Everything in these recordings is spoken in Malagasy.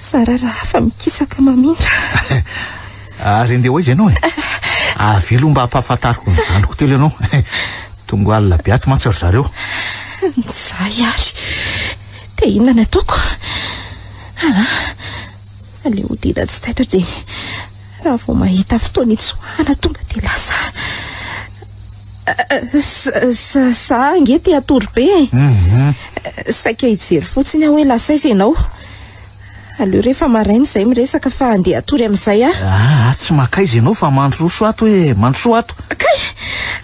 Zara raha hafa mikisaka mamindra. Ary andeha ho aiza ianao e? Avelo mba hampahafantariko ny zanako telo ianao. Tonga alina be ato mantsy ry zareo. Nizay ary. Dia inona no ataoko? Ana, aleo hodina tsy taitra dia raha vao mahita fotoana hitsoahana tonga dia lasa. Za ange te hatory be e. Mhm. Saika hijery fotsiny aho hoe lasa aiza ianao. Aleo rehefa maraina izay miresaka fa andeha hatory amin'izay aho. Ah, ah tsy makaiza ianao fa mandroso ato hoe eh, mandroso ato. Kay!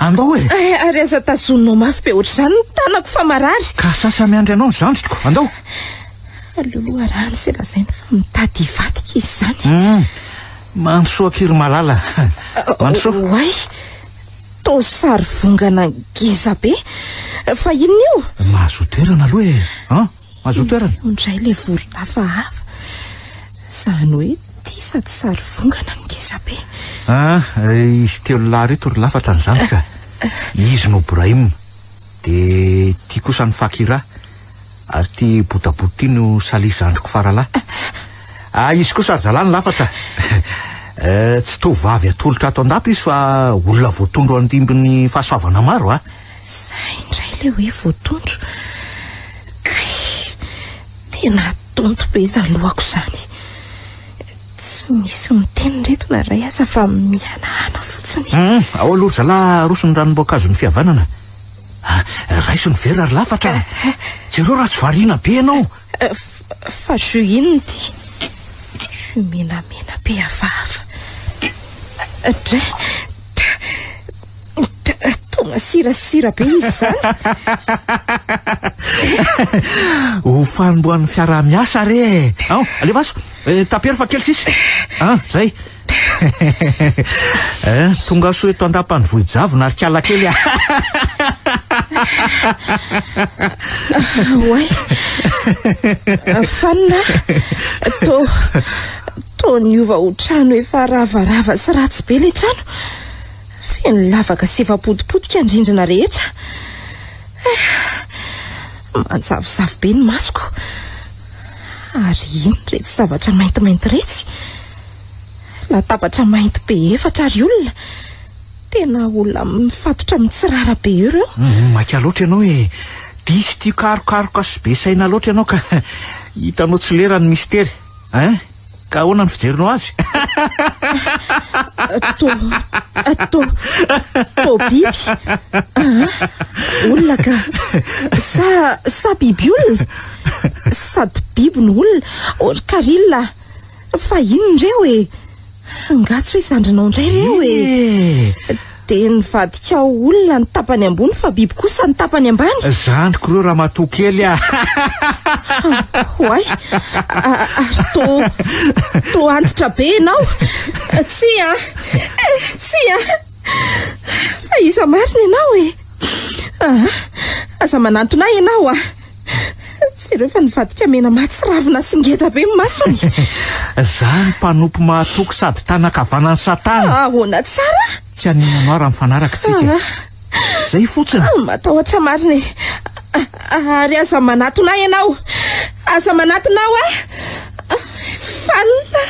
Andao e! Eh, ary aza tazoninao mafy be ohatr'izany ny tanako fa marary. Ka sasa miandry anao ny zandriko, andao! Aleo loharano izay lazainy fa mitady hivadika izy izany. Mm. Mandroso akiry malala. Mandroso. Ah, oay! Tao sary vongana ngeza be. Fa inona io? Mahazo toerana aloha e. An? Azoa toerana. Io indray ilay volo lafahafa. Izany hoe tia sady sary vongana ny ngezabe. Ah, izy telo lahy ireto ry lafatra ny zandry ka. Izy no Brahim. Dia ity kosa ny Fakira. Ary ity botabota ity no Salih zandriko faralahy. Ah izy kosa ry zalahy ny lafatra eh, tsy tovovavy atolotra ato an-dapa izy fa olona voatondro andimbin'ny fahasoavana maro ah. Zay indray le hoe voatondro. Kay, tena tonto be izany lohako izany. Tsy misy miteny reto na iray aza fa mihanahana fotsiny. Hmm, ao aloha ry zalahy aroso ny ranom-boankazon'ny fihavanana. Ah, raiso ny vera ry lafatra. Jereo raha tsy variana be ianao. Eh, Fa jus inona ity? Jus menamena be hafahafa. Dra, dra, dra, toa masirasira be izy izany. Ho fanombohan'ny fiaraha-miasa re e. Ao, alefaso. Eh, tapero fa kely sisa. Ah, zay. Eh, tongasoa eto an-dapan'ny vohijavona ary kiala kely ah. Oay, fanina, to, to niova ho trano efa ravarava sy ratsy be le trano. Feno lavaka sy efa potipotika ny rindrina rehetra. Manjavozavo be ny masoko. Ary ino iretsy zavatra maintimainty iretsy? Latabatra mainty be efatra ary olona. Tena olona mifatotra mitsirara be ireo. Mm, maika loatra ianao e. Diso tia karokaroka sy be saina loatra ianao ka hitanao tsy lera ny mistery. Hein? Ka ahoana ny fijerinao azy? To, to, to biby. Ah, olona ka. Sa, sa biby olona? Sady biby no olona. Or, Karila, fa inona ireo e? Angaha tsy hoe zandrinao indray reo e! Eh! Dia nivadikao olona ny tapany ambony fa biby kosa ny tapany ambany? Zandriko reo ramatoa kely a! Oay! Ary to, to antitra be ianao? Tsia! Eh, tsia! Fa iza marina ianao e? Ah, aza manantona ahy ianao ah. Jereo fa nivadika mena mahatsiravina sy ngeda be ny masony. Zany mpanompo mahatoky sady tanan-kavanan'i Satana. Ahoana tsara? Tsy haninona aho raha mifanaraka tsika. Ah. Zay fotsiny. Ah, matahotra marina e. Ah, ary aza manatona ahy ianao. Aza manatona aho ah. Fanina.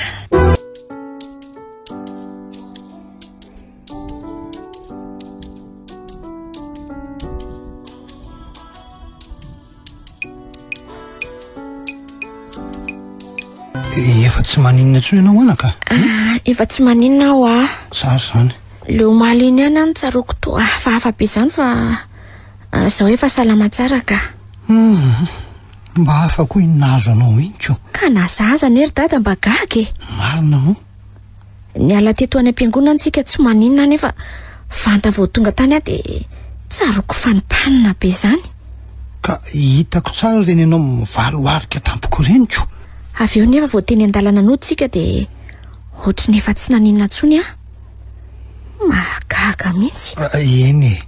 Eh, efa tsy maninona tsoa ianao anaka ah, efa tsy maninona aho a ah. zary zany le omaly iny any any tsaroako to ah, fa hafa be zany fa zao efa salama tsara ka hmm, mba hafa koa iny nahazo anao mihitsy o ka nazaza nery dada mba gaga e marina moa Niala teto any am-piangonana tsika tsy maninona anefa vanta vao tonga tany aho dia tsaroako fa nipanina be izany. Ka hitako tsara ireny ianao mivaloharika tampoko ireny ko. Avy eo nefa vao teny an-dalana noho tsika dia ohatry ny efa tsy naninona tsony aho. Mahagaga mintsy. Ah, eny e.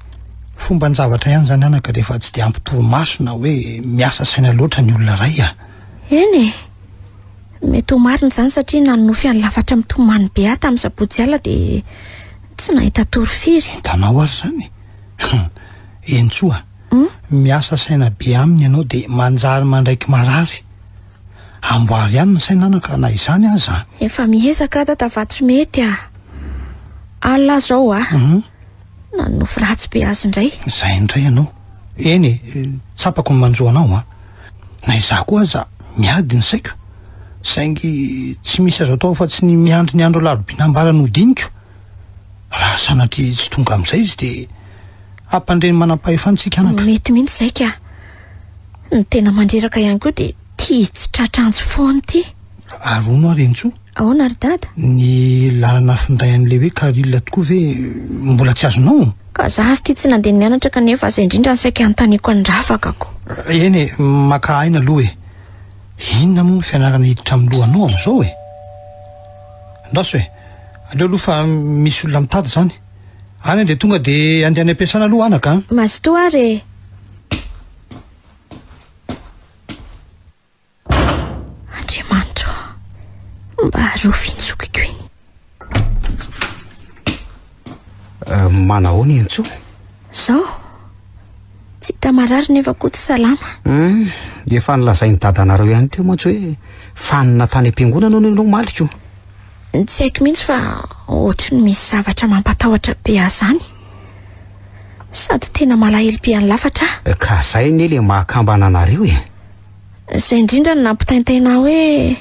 Fomban javatra ihany izany anaka rehefa tsy dia ampy torimaso na hoe miasa saina loatra ny olona iray ah. Eny e. Mety ho marina izany satria nanonofy an'i Lafatra mitomany be ahy tamin'ny sabotsy alina dia tsy nahita tory firy. Hitanao ary izany e! Hentsoa, miasa saina be aminy ianao dia manjary mandraiky marary. Amboary ihany ny saina anaka na izany aza an! Efa miezaka aho Dadavatorimety a! Alina izao a! Nanonofy ratsy be azy indray. Izay indray ianao. Eny e, tsapako ny manjo anao an. Na izaho koa aza miady ny saiko. Saingy tsy misy azo atao afa-tsy ny miandry ny andro alarobia nambarany ho diniko. Raha sanatria tsy tonga amin'izay izy dia hampandre ny manam-pahefany isika anaka. Mety mihitsy izay ka. Ny tena mandreraka ihany koa dia tia hitsitratra antsy foana ity. Ary hono aho Rentsoa. Ahoana ry dada? Ny lalana finday an'ilay hoe Caril tokoa ve mbola tsy azonao? Ka za sty tsy nandeha nianatra kanefa zay indrindra no saika anontaniako an'i Rafakako. Eny e, maka aina aloha e. Inona moa ny fianarana hiditra amin'ny lohanao amin'izao e? Ndaoso e, aleo aloha fa misy olona mitady izany. Any dia tonga dia andeha any am-piasana aloha anaka an! Mazotoa ary e! Andriamanitro, mba arovy iny zokiko iny. Uh, manahoana iny tsoa? Zao? Tsy hita marary nefa koa tsy salama. Hmm, efa nilazain'ny dadanareo ihany teo mantsy hoe fanina tany am-piangonana hono ianao maliko. Tsy haiko mihitsy fa ohatry ny misy zavatra mampatahotra be azany. Sady tena malahelo be an'ny lafatra. Ka zay ne le mahakambana anareo e. Izay indrindra no nampitaintaina ahy hoe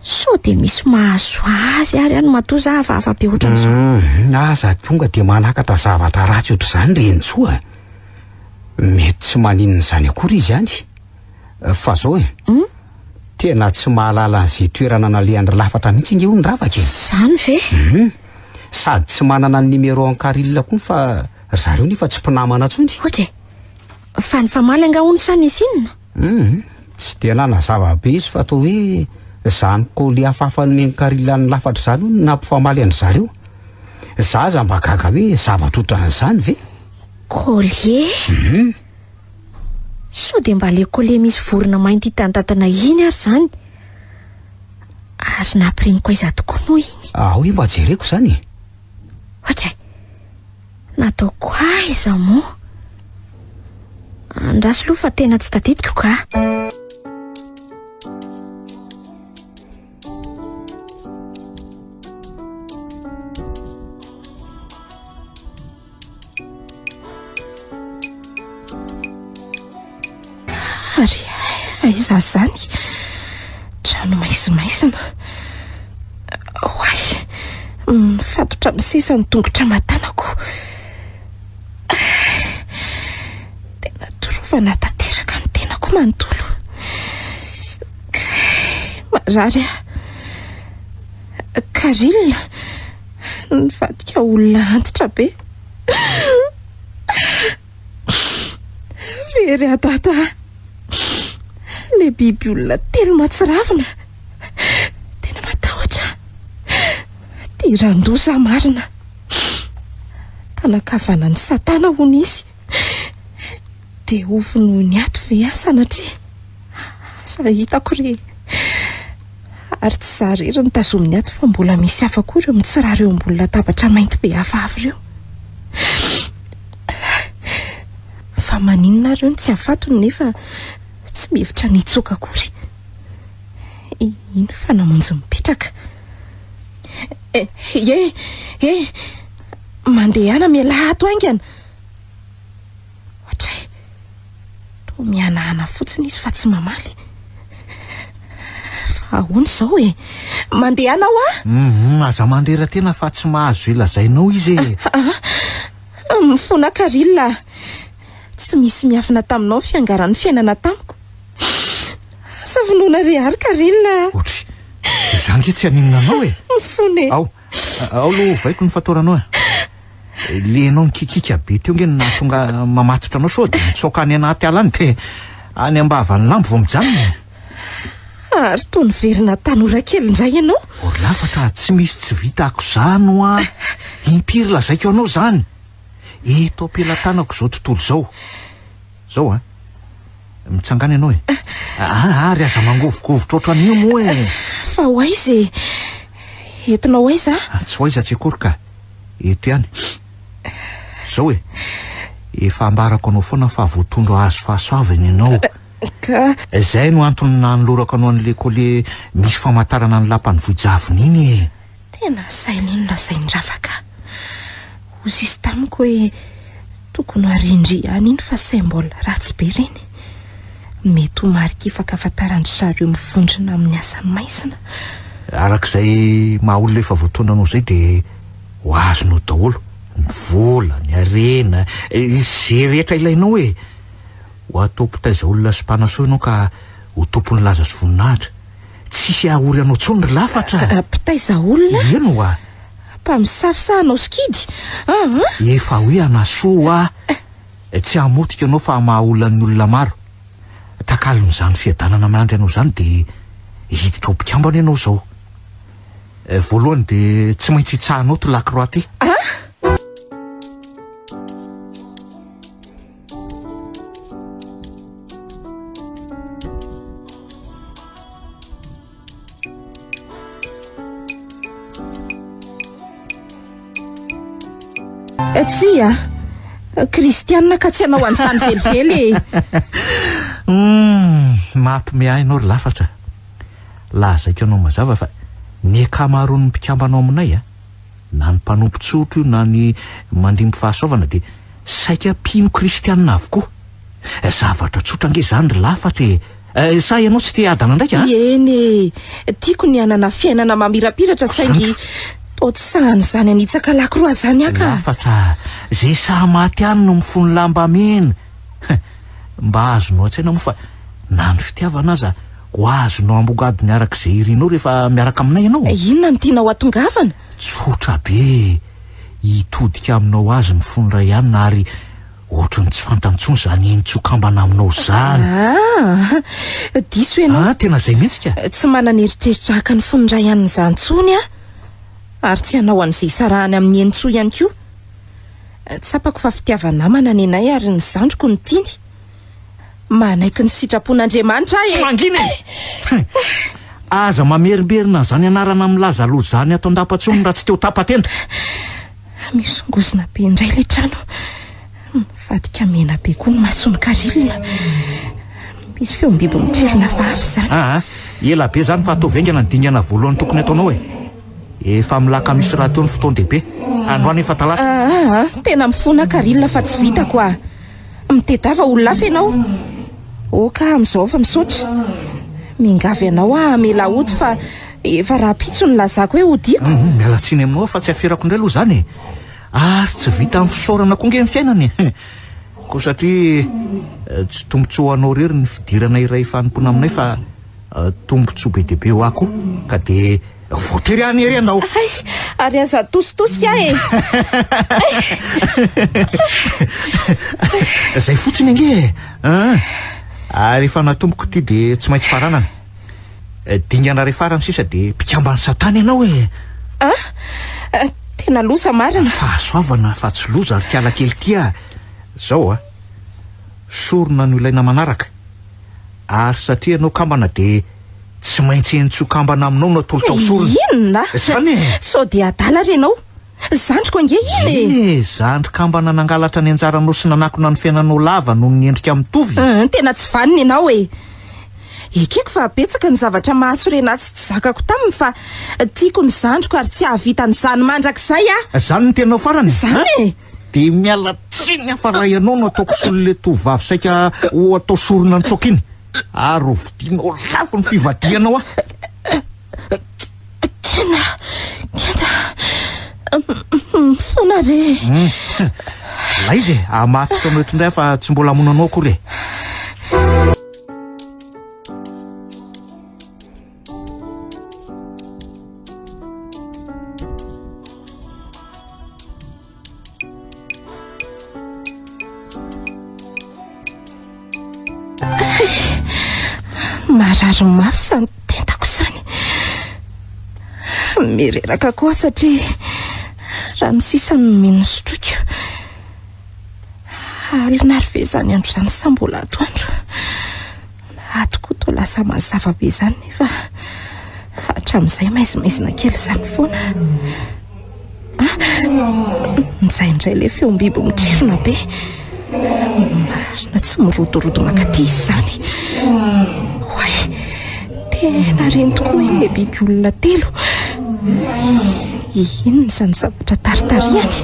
sao dia misy mahazo azy ary any matoa za hafahafa be ohatran'izao. Hmm, na aza tonga dia manakatra zavatra ratsy ohatr'izany ry Henintsoa. Mety tsy maninona izany akory izy any. Fa zao e. Hmm? Tena tsy mahalala an'izay toerana nalehany lafatra mihitsy ange hono Ravaka e. Zany ve? Hmm. Sady tsy manana ny numéro an'i Caril koa fa ry zareo nefa tsy mpinamana intsony. Ok. Fa nifamaly angaha hono sa nisy inona? Hum, tsy dia nanazava be izy fa toa hoe izany colis hafahafa nomen'i Carila nilafatra izany hono no nampifamaly an-dry zareo. Izaho aza mba gaga hoe zavatra ohatran'izany ve? Collier? Hum. Sao dia mba ilay collier misy vorona mainty hitan'i Tatana iny ary izany? Ary nampirimiko aiza tokoa moa iny? Ahoy mba jereko izany e? Ohatray. Nataoko aiza moa? Andraso aloha fa tena tsy tadidiko ka. Ary aiza izany? Trano maizimaizina. Oay! Mifatotra amin'ny seza ny tongotra aman-tanako. Tena torovana tanteraka ny tenako manontolo. Marary aho. Caril, nivadika olona antitra be. Very adada. Le biby olona telo matsiravina. Tena matahotra. Diran-doza marina. Tanakavanan'i satana hono izy. Dia ho vonoin'ny ato ve aho sanatria? Aza hitako re! Ary tsy za irery no tazominy ato fa mbola misy hafa koa ireo mitsirara eo ambony latabatra mainty be hafahafa ireo. Fa maninona ary io no tsy hafatony nefa tsy mihevitra ny hitsoaka akory? Iny fa namonjy mipetraka. Eh, eh, eh! Mandehana mialaha ato haingana! Ohatray toa mihanahana fotsiny izy fa tsy mamaly. Fa ahoana izao e? Mandehana hoa? Hum, aza mandrera-tena fa tsy mahazo izay lazainao izy e. Ah, ah, mifona Caril ah. Tsy misy miafina taminao ny fiangaran'ny fiainana tamiko. Asa vonoina re ary Caril ah. Otry, izaho ange tsy haninona anao e. Mifona e. Ao. Ao lo ovaiko ny fatoranao e. Le enao nikikika be teo nge no nahatonga mamatotra anao sao de mitsaoka any anaty ala any de any ambavan'ny lambo vao mijanona e. Ary toa niverina tanora kely indray ianao. Orlafatra, tsy misy tsy vita ako'zany hoa. Impiry lazaiko anao zany. Eto am-pelatanako zao tontolo zao. Zao a! Mitsangàna ianao e! Aa ary aza mangovogovitra ohatran'io moa e! Fa ho aiza e! Entinao aiza a? Tsy ho aiza tsy akory ka! Eto ihany. Zao e! Efa ambarako anao foana fa voatondro hahazo fahasoavana ianao. Ka. Izay no antony nanolorako anao an'ilay coller misy famantarana ny lapan'i Vohijavona iny e! Tena sahy lenona izay ny ravaka. Hoy sisa tamiko hoe tokony ho arindry ihany iny fa symbole ratsy be ireny. Mety ho marikifaka afantaran-dry zareo mivondrona amin'ny asa maizina. Araka izay maha olona efa voataona anao izay dia ho azonao daholo, ny vola, ny harena, izay rehetra ilainao e! Ho atao mpitaiza olona sy mpanasoa ianao ka ho tompon'ny laza sy voninahitra. Tsy hisy hahaory anao intsony ry lafatra a! Mpitaiza olona a! Eny ho'a! Mpamisafisaha anao sikidy a! An! Efa hoe hanasoa ho'a! Tsy hamotika anao fa hamaha olona ny olona maro. Takalon'izany fiadanana miandry anao izany dia hiditra ho mpikambana ianao izao. Voalohany dia tsy maintsy hitsaha anao to Lacroix ty. An! Eh, tsia kristianina ka tsy hanao an'izany velively e hmm, mampome ahy ianao ry lafatra lazaiko anao mazava fa ny akamaroan'ny mpikambanao aminay a na ny mpanompo tsotra io na ny mandimby fahasoavana dia saika mpino kristianina avokoa. Zavatra tsotra ange izany ry lafatra e! Sa ianao tsy te hiadana ndraiky an? Eny e! Tiako ny hanana fiainana mamirapiratra saingy toa tsy sahy izany hanitsaka lakroa izany aho ka! Lafatra a! Izay sahy maty ihany no mifono lamba mena! He, mba azonao an-tsaina moa fa na ny fitiavana aza ho azonao ambongadiny araka izay irinao rehefa miaraka aminay ianao? Inona no tianao hatongavana? Tsotra be e! Hitodika aminao azy ny fon'i Ryan ary ohatry ny tsy fantany intsony izany henontsokambana aminao izany. Ah! Diso ianao. Ah, tena izay mihitsy ka! Tsy manana eritreritra haka ny fon'i Ryan izany intsony aho. Ary tsy hanao an'izay hisarahany amin'ny henotsoa ihany koa. Tsapako fa fitiava-namana nenay ary ny zandriko no tiany. Manaiky ny sitrapon'Andriamanitra aho e! Mangina e! Aza mamerimberina an'izany anarana milaza loza izany ato an-dapa intsony raha tsy te-ho tapa-tenda! Misongozona be indray ilay trano. Mivadika mena be koa ny mason'i Karilina. Misy feom-biby mitrerona hafahafa izany. Aa, ela be izany fa ataovy haingana ny dingana voalohany tokony ataonao e! Efa amin'ny lakamisy rahateo ny fotoan-dehibe. Androany efa talata. Aa, tena mifona Caril fa tsy vitako aa. Mitedava olona hafa ianao. Ok amin'izao fa misaotra. Miangavy anao aho hamela hody fa efa rahampitso ny nilazako hoe hodiako. Humm, miala tsiny aminao aho fa tsy aferako indray aloha izany e. Ary tsy vitan'ny fisaorana koa ange ny fiainana e. Koa satria tsy tombontsoa ho anao irery ny fidirana iray fanompoana aminay fa. Tombontsoa be dia be ho ahy koa ka dia voatery hany ery ianao. Hay, ary aza atositosika aho e! Zay fotsiny ange e! Ary efa natomboko ity dia tsy maintsy faranana. Dingana iray farany sisa dia mpikamban'i Satana ianao e! Ah! Tena loza marina! Fahasoavana fa tsy loza ry kialakely tia! Zao a! Sorona no ilaina manaraka. ary satria ianao kambana dia tsy maintsy eny tsy ho kambana aminao no atolotra ho sorona. Inona? Izany e! Sao dia adala ary ianao? Zandriko ange iny e! Eny e! Zandry kambana nangalatra ny anjaranao sy nanakona ny fiainanao lava noho ny endrika mitovy. Hum, tena tsy vanona ianao e! Ekeko fa betsaka ny zavatra mahasorena ahy sy tsy zakako taminy fa tiako ny zandriko ary tsy hahavita an'izany mandrakizay aho! Izany no teninao farany e! Izany e! Dia miala tsiny aho fa raha ianao no ataoko solon'ilay tovovavy saika ho atao sorona an-tsaoka iny, ary ho vidianao lafo ny fivadihanao aho. Kenda, kenda, mifona re e! Ilay izy e, hamatotra anao eto indray aho fa tsy mbola hamono anao akory e! Marary mafy izany tentako izany. Mireraka koa satria raha ny sisa no mino sotroiko. Alina ary ve izany andro izany sa mbola atoandro? Ato koa toa lasa mazava be izany nefa hatramin'izay maizimaizina kely izany foana. Indraindray ilay feom-biby mitrifona be. Marina tsy mirodorodo mankaty izany. Oay, tena reny tokoa iny ilay biby olona telo. Inona izany zavatra taritarihany?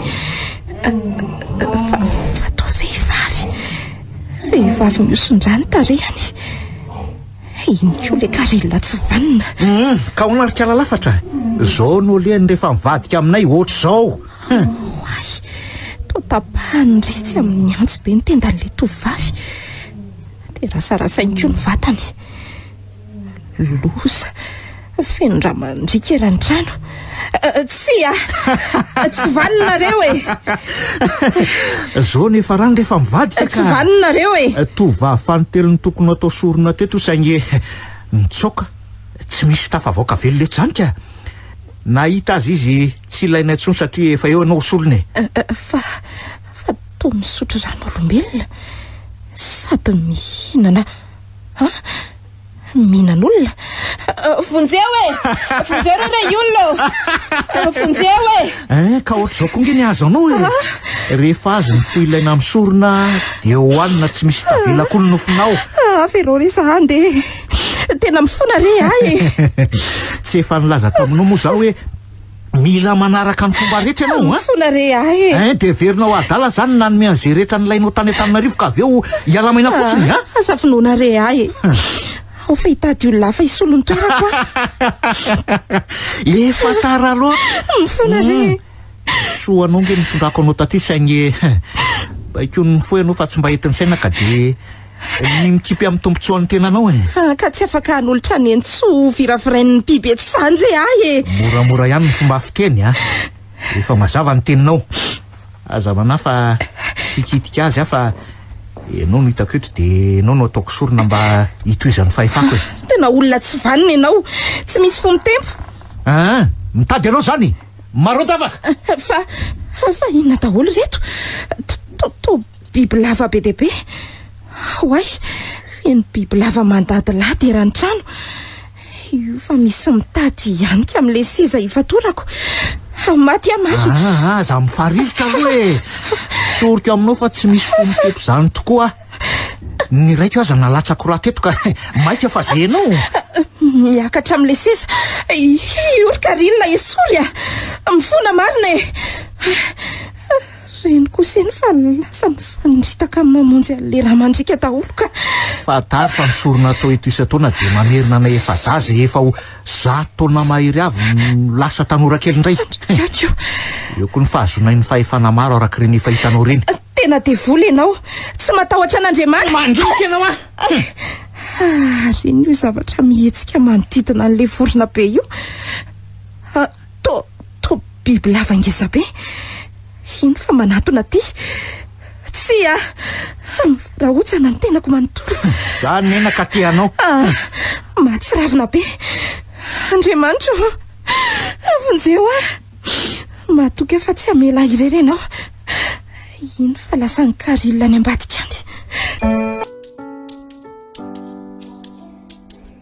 Fa, fa toa vehivavy. Vehivavy mihoson-drà ny tarehany. Iny koa ilay karila tsy vanona. Hum, ka ahoana ry kalalafatra? Izao no lehany rehefa mivadika aminay ohatr'izao. Oay, toa tapahany ny retsy amin'ny antsy be ny tendan'ilay tovovavy. Dia rasarasainy koa ny vatany. Loza! Feno rà mandriaka eran'ny trano. Tsia! Tsy valinareo e! Zao nefa rano rehefa mivadika ka! Tsy valinareo e! Tovovavy fanintelony no tokony ho atao sorona teto saingy nitsoaka. Tsy misy tafavaoka velona eto izany ka! Nahita azy izy tsy ilaina intsony satria efa eo ianao solony e! Fa, fa toa misotro rano olombelona sady mihinana. Ha? Mihinan'olona? Vonjeo e! Vonjeo re ilay olona ô! Vonjeo e! Eh, ka ohatr'izao koa nge ny azo anao e! Rehefa azo ny fo ilaina amin'ny sorona dia hohanina tsy misy tavela akory ny nofonao. Hafa ianao re sa andeha e! Tena mifona re ahy e! Tsy efa nilaza taminao moa izaho hoe Mila manaraka ny fomba rehetra ianao an! Mifona re ahy e! Hein, dia heverinao adala izany ny nanome an'izay rehetra nilainao tany Antananarivo ka avy eo hialamaina fotsiny an! Aza finoana re ahy e! Ao fa hitady olona hafa hisolo ny toerako aho! Efa tara loatra! Mifona re e! Soa anao ange ny nitondrako anao taty saingy baikoin'ny fo ianao fa tsy mba entin'ny saina ka dia. Ny mikipy amin'ny tombontsoan'ny tenanao e. Ah, ka tsy afaka hanolotra ny entso viravirain'ny biby eto sandry ahy e. Moramora ihany ny fomba fiteny a. Efa mazava ny teninao. Aza manahy fa tsy hikitika azy aho fa ianao no hitako eto dia ianao no ataoko sorona mba hitohizan'ny fahefako e. Ah, tena olona tsy vanona ianao. Tsy misy fo mitempo. Ah, mitady ianao izany. Maro an-tavaka. Ah, fa fa inona daholo ireto? To to Bibilava be dia be. Oay! Feno bibilava mandadilady eran'ny trano. Io fa misy mitady hihanika amin'ilay seza hifatorako. Maty aho maso. Ah, ah, ah aza mifaririka aloha e. Tsoriko aminao fa tsy misy fo mitepo izany tokoa. Ny raiko aza nalatsako raha teto ka maika fa zenao. Miakatra amin'ilay seza. Iory Karina esory ah. Mifona marina e. Reniko sy iny fa lasa mifanindritaka amin'ny mamonjy an'ilay rà mandriaka daholo ka. Fantaro fa ny sorona atao eto isan-taona dia mamerina anay efa-dahy izay efa ho zato taona mahery avy no lasa tanora kely indray. Fandriaka io. Eo koa ny fahazoanay ny fahefana maro araka ireny efa hitanao ireny. Tena devoly ianao. Tsy matahotra an'Andriamanitra. Mandriaka ianao an! Harian'io zavatra mihetsika manodidina an'ilay vorona be io. Tô, tô bibilava ngezabe. Hino fa manatona aty. Tsia! Mivarahotsana ny tenako manontolo. Za menaka aty anao. Ah, mahatsiravina be. Andriamanitro, avonjeo aho. Matoky aho fa tsy hamela ahy irery ianao. Hino fa lasa ny caril any ambadika any.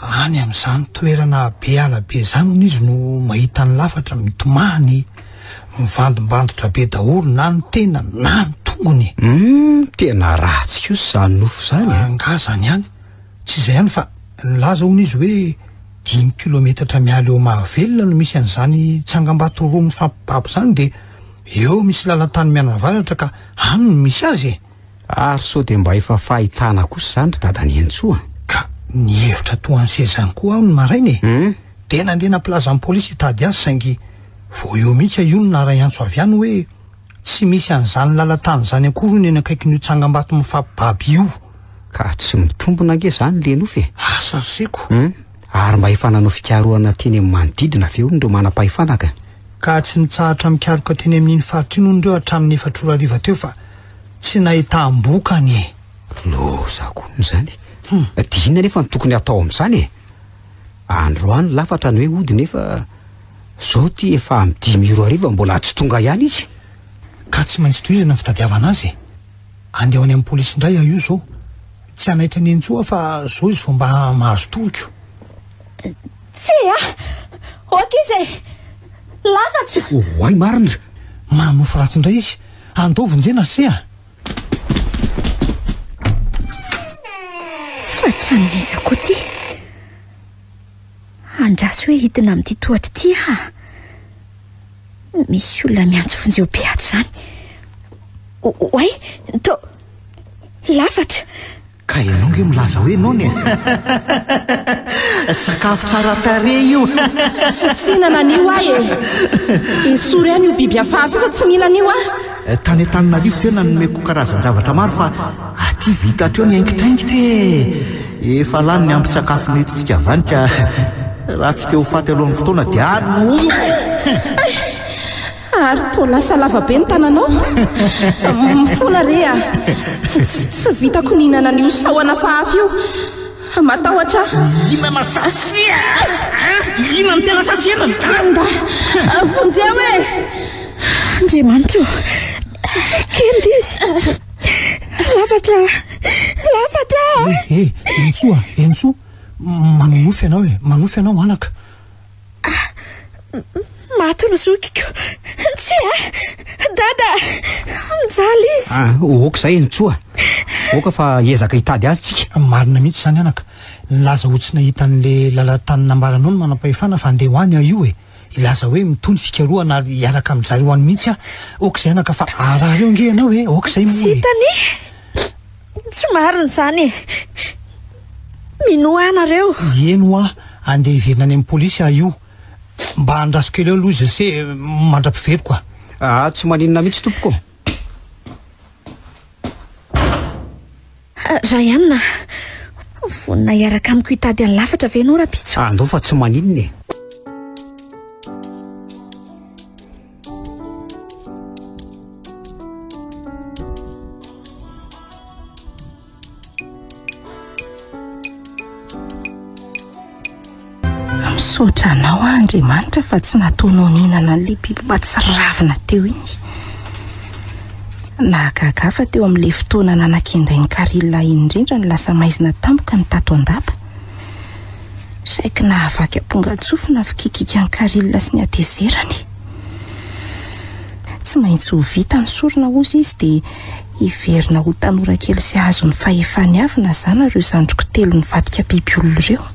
Any amin'izany toerana be ala be izany hono izy no mahita ny lafatra mitomany, mivandimbandotra be daholo na ny tena na ny tongony. Hum, tena ratsy kosa izany nofo izany e! Angaha izany ihany? Tsy izay ihany fa nilaza hono izy hoe dimy kilometatra miala eo Mahavelona no misy an'izany tsangambato roa mifampibabo izany dia eo misy lalan-tany mianavaratra ka any no misy azy e! Ary sao dia mba efa fahitana kosa izany ry dada Nentsoa a! Ka nihevitra toa an'i Seza ihany koa aho ny maraina e! Dia nandeha nampilaza amin'ny polisy hitady azy saingy vao eo mihitsy aho io no naray-antso avy any hoe tsy misy an'izany lalan-tany izany akory hono eny akaikin'io tsangambato mifampibaba io. Ka tsy mitombina ange izany le nofy e! Asa ry seko! Ary mba efa nanao fikarohana teny amin'ny manodidina ve hono ireo manam-pahefana ka? Ka tsy nitsahatra mikaroka teny amin'iny faritra iny hono ireo hatramin'ny efatra ora hariva teo fa tsy nahitam-bokany e! Lozako izany! Dia inona nefa no tokony hatao amin'izany e? Androany lafatra ny hoe hody nefa izao ity efa amin'ny dimy ora hariva mbola tsy tonga ihany izy. Ka tsy maintsy tohizana ny fitadiavana azy e! Andeho any amin'ny polisy indray aho io izao. Tsy hanaitra an'i Entso aho fa izao izy vao mba mahazo toriko. Tsia! Hoaka izy e! Lafatra! Oay marina! Manofy ratsy indray izy. Andao vonjena se a! Fa tranon'iza koa ty? Andraso hoe hidina amin'ity tohatra ity aho. Misy olona miantso vonjeo be ato izany. Oay, to lafatra. Ka ianao nge milaza hoe nono e! Sakafo tsara tarehy io! Tsy hihinana an'io aho e! Esory any io biby hafahafa fa tsy mila an'io aho! Tany Antananarivo tena nomeko karazan-javatra maro fa aty vita hatreo ny haingitraingitra e! Efa lany ny ambin-tsakafo nentintsika avy any ka raha tsy te ho faty alohan'ny fotoana dia any no ho eo e! Ha ary toa lasa lava be ny tananao. Mifona re ah. Tsy vitako ny hinana an'io sahona fahafy io. Matahotra ah. Hinana satsy ah. Hinana ny tena satsy henany. Kanda, vonjeo e. Andriamanitra o. Kenda izy. Lafatra ah. Lafatra ah. He, Enitsoa, Enitsoa. Manonofy ianao e. Manonofy ianao anaka. Maty ny zokiko. Tsia! Dada! Mijaly izy. Ah, ok izay Ntsoa. Aoka fa hiezaka hitady azy tsika. Marina mihitsy izany anaka. Nilaza ho tsy nahita an'le lalan-tany nambaranao ny manam-pahefana fa andeha ho any aho io e. Hilaza hoe mitohy ny fikarohana ary hiaraka amin-dry zareo any mihitsy aho. Ok izay anaka fa harary eo ange ianao e. Ok izay moa e. Tsy hitany. Tsy marina izany e! Minoa nareo. Ié no a andeha hiverina any amin'ny polisy ah io mba andraso kely eo aloha izy ase mandra-piveriko a. Aa tsy maninona mihitsy tompoko ô. Ryan a! Vonona hiaraka amiko hitady any lafatra ve enao rapitso? Andao fa tsy maninona e. Misaotra anao aho Andriamanitra fa tsy nataonao nihinana an'ilay biby mba tsy ravina teo iny. Nahagaga ahy fa teo amin'ilay fotoana nanakendain'i Carilla iny indrindra no lasa maizina tampoka ny tato an-dapa. Saiky nahavaky ampongan-tsofina fikikika an'i Caril sy ny hatezerany. Tsy maintsy ho vita ny sorona hozy izy dia hiverina ho tanora kely sy hahazo ny fahefany avy na zana ireo zandriko telo nivadika biby olona ireo.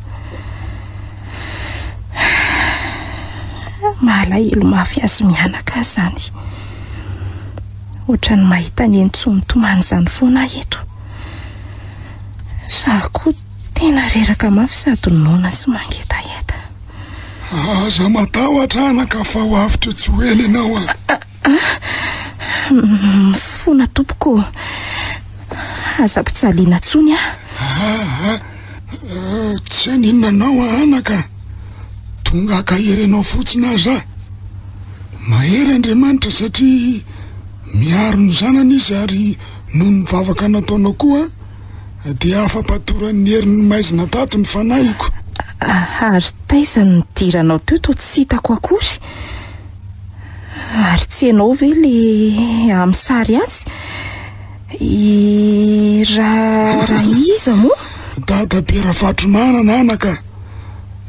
Mahalahelo mafy azy mianaka aho izany. Ohatran'ny mahita ny eny tsy mitomany izany foana aho eto. Za koa tena reraka mafy sady noana sy mangetaheta. Aza matahotra anaka fa ho avy teo tsy ho ela ianao a. Ah, ah, mifona tompoko. Aza ampijaliana tsony a. Ah, ah, tsy aninona anao a anaka. Tonga ka herenao fotsiny aza. Mahery Andriamanitra satria miaro ny zanany izy ary Noho ny vavaka nataonao koa dia afa-patoran'ny herin'ny maizina tato ny fanahiko. Ary taiza no nidiranao teo toa tsy hitako akory? Ary tsy ianao ve le amin'ny sary atsy? I ra ra iza moa? Dadabe Rafatromanana anaka,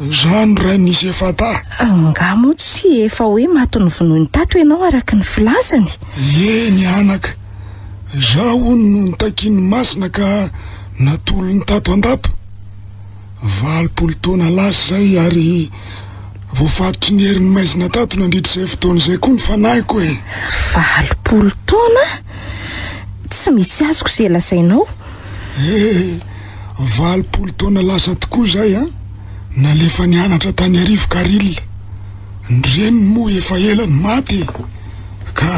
za no rain'i Sefata. Angaha moa tsy efa hoe maty novonoiny tato ianao araka ny filazany? Eny anaka. Izaho hono no nitakian'ny Masina ka natolony tato an-dapa. Valopolo taona lasa izay ary voafatotry ny herin'ny maizina tato nandritra izay fotoana izay koa ny fanahiko e! Valopolo taona? Tsy misy azoko izay lazainao. Eh, valopolo taona lasa tokoa izay an! Nalefa nianatra tany Arivo Karil. Ny reniny moa efa ela no maty e! Ka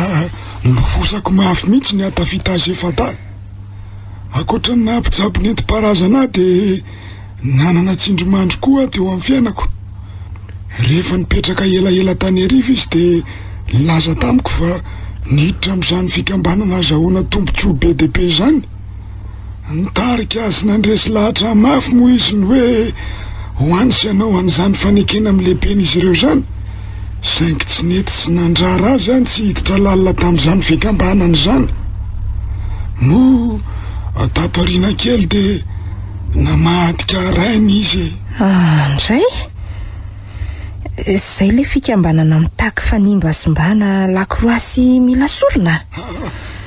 nilofosako mafy mihitsy ny ahatafita azy efa-dahy. Ankoatra ny naha-mpitsabo nentim-paharazana ahy dia nanana tsindrimandry koa aho teo amin'ny fiainako. Rehefa nipetraka elaela tany heriva izy dia nilaza tamiko fa niditra amin'izany fikambanana azahoana tombontsoa be dia be izany. Nitarika azy nandresy lahatra mafy moa izy ny hoe ho any sy hanao an'izany fanekena amin'ny lehiben'izy ireo izany, saingy tsy nety sy nandrara azy any tsy hiditra lalina tamin'izany fikambanana izany. Moa tato aoriana kely dia namadika rainy izy e! Ah, ndray? Izay ilay fikambanana mitaky fanimba sy mbana lakroasy mila sorona?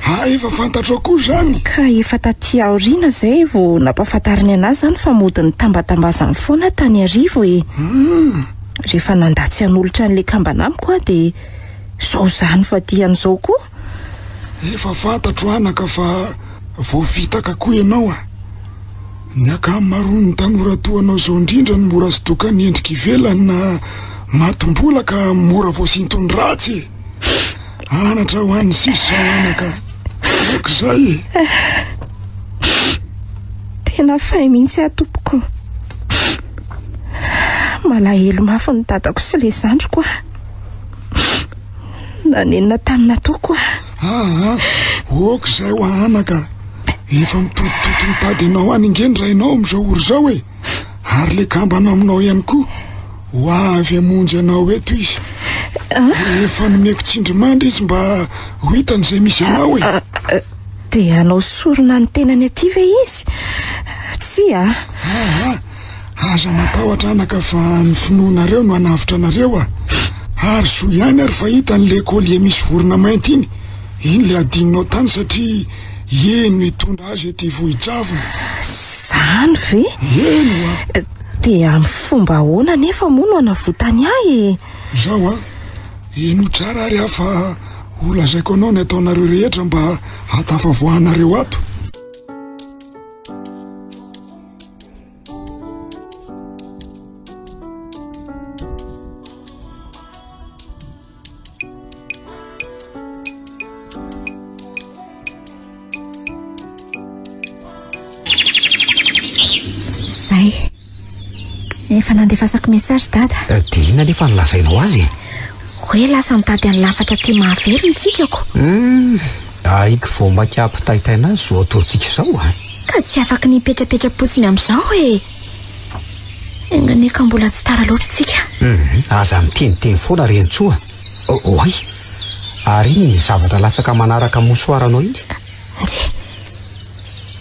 Ah efa fantatrao koa zany? Ka efa taty aoriana zay vao nampafantariny anah zany fa mody nitambatambazany foana tany arivo e! Rehefa nanda tsy hanolotra an'le kambana amiko aho de zao zany vadiany zao koa! Efa fantatro anaka fa voafitaka koa ianao a! Ny ankamaroan'ny tanora toa anao zao indrindra no mora sodokan'ny endrika ivelany na matim-bola ka mora voasinton'ny ratsy e! Anatra ho an'ny sisa anaka. Aoka izay e. Tena fay mihitsy aho tompoko. Malahelo mafy ny dadako sy le zandriko aho. Nanenina tamin'ny nataoko aho. Aha, aoka izay ho anaka. Efa mitotototo mitady anao any nge ny rainao amin'izao ora izao e. Ary le kambana aminao ihany koa. Ho avy hamonjy anao eto izy. Efa nomeko tsindrimandry izy mba ho hitany izay misy anao e. Dia hanao sorona ny tenany aty ve izy? Tsia. Aha, aza matahotra anaka fa ny finoanareo no hanavotra anareo a. Ary zo ihany ary fa hitany ilay collier misy vorona mainty iny. Iny ilay adinonao tany satria iny no hitondra azy ety Vohijavona. Izany ve? Eny hoa. Dia amin'ny fomba ahoana anefa moa no anavotany ahy e? Izao an, hino tsara ary aho fa holazaiko anao ny ataonareo rehetra mba hahatafavoahanareo ato. Zay. Efa nandefasako message dada. Eh, dia inona nefa no lazainao azy e? Hoe lasa nitady an'ny lafatra aty mahavery ny tsikako. Hmm, ahiko vao maika ampitaitaina azy izao atorontsika izao ah. Ka tsy afaka ny hipetrapetra-potsiny amin'izao e. Enganie ka mbola tsy tara loatra tsika. Hum, aza miteniteny foana ry Hentsoa. Oay, ary iny ny zavatra latsaka manaraka mosoara anao iny? Nge.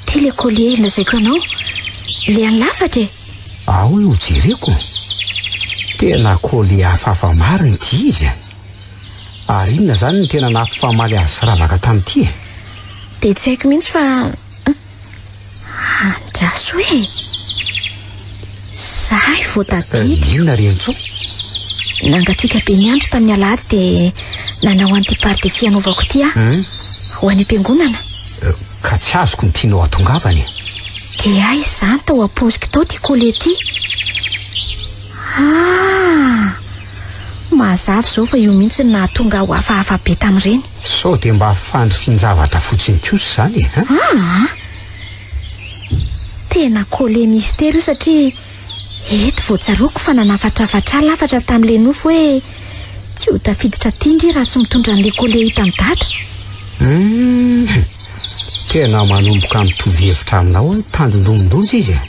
Ty le collier lazaiko anao, le any lafatra e. Ahoy ho jereko? Tena collier hafahafa marina ity izy a. Ary inona zany ny tena nampifamaly azy sy ravaka tamin'ity e? Dia tsy haiko mihitsy fa Andraso e! Zahay vao tadidy. Eh, inona ry Antso? Nangatsiaka be ny andro tamin'ny alahady dia nanao an'ity pardesy anaovako ity aho. Hmm? Ho any am-piangonana. Eh, ka tsy azoko ny tianao hatongavany. Dia ahy izany tao am-paoziko tao ity kolety. Ah! Mazava izao fa io mihitsy ny nahatonga aho hafahafa be tamin'ireny. Sao dia mba fandrifin-javatra fotsiny kosa izany e? An? Aa! Tena collé mystère io satria eto vao tsaroako fa nanafatrafatra ahy lafatra tamin'ilay nofy hoe tsy ho tafiditra aty ndry raha tsy mitondra an'ilay collé hitan'i Dada. Hum, tena manomboka mitovy hevitra aminao hoe tandindomindonjy izy e!